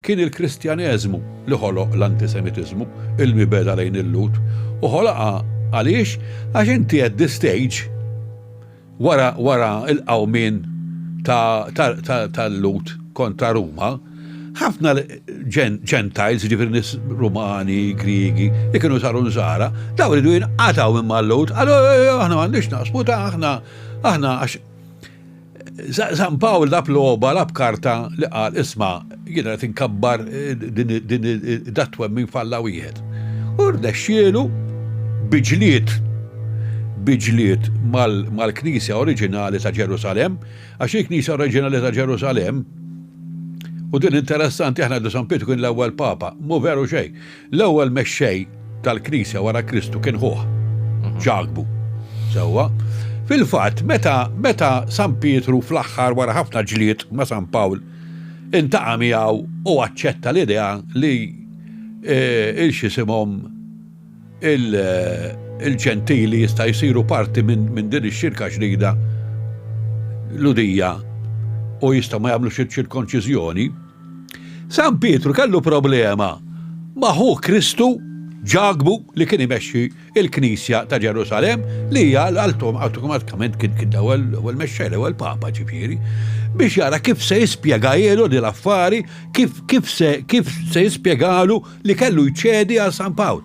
Kien il-Kristjaneżmu li ħoloq l-antisemitiżmu, il-mibegħda lejn il-Lhud, u ħoloqha għaliex? Għax inti at the stage wara wara l-qawmien ta' ta' ta' tal-Lhud kontra Ruma, ħafna ġen gentiles, jiġifieri nies Rumani, Griegi, li kienu saru Nsara, dawn iridu jinqatgħu minn mal-Lhud, qalu, aħna m'għandniex naqsmu ta' aħna aħna għax San Pawl lab logħba lab karta li qal isma' jiena qed inkabbar din dat-twemmin f'Alla wieħed. U rnexxielu bi ġlied bi ġlied mal-Knisja oriġinali ta' Ġerusalemm, għax il-Knisja oriġinali ta' Ġerusalemm, u din interessanti aħna ngħidu San Pietru kien l-ewwel Papa, mhu veru xejn. L-ewwel mexxej tal-Knisja wara Kristu kien ħuh, Ġakbu. Sewwa? Fil-fatt, meta meta San Pietru fl-aħħar wara ħafna ġlied ma' San Pawl intaqa' miegħu u aċċetta l-idea li eh, il-xisimhom il-ġentili jista' jsiru parti minn din ix-xirka ġdida l-udija u jista' ma jagħmlux iċ-ċirkonċiżjoni, San Pietru kellu problema ma' ħuh Kristu, Ġakbu, li kien imexxi l-Knisja ta' Ġerusalemm, li hija awtomatikament kien l-ewwel mexxej, l-ewwel Papa ġifieri, biex jara kif se jispjegahielu din l-affari, kif se jispjegalu li kellu jċedi għal San Pawl.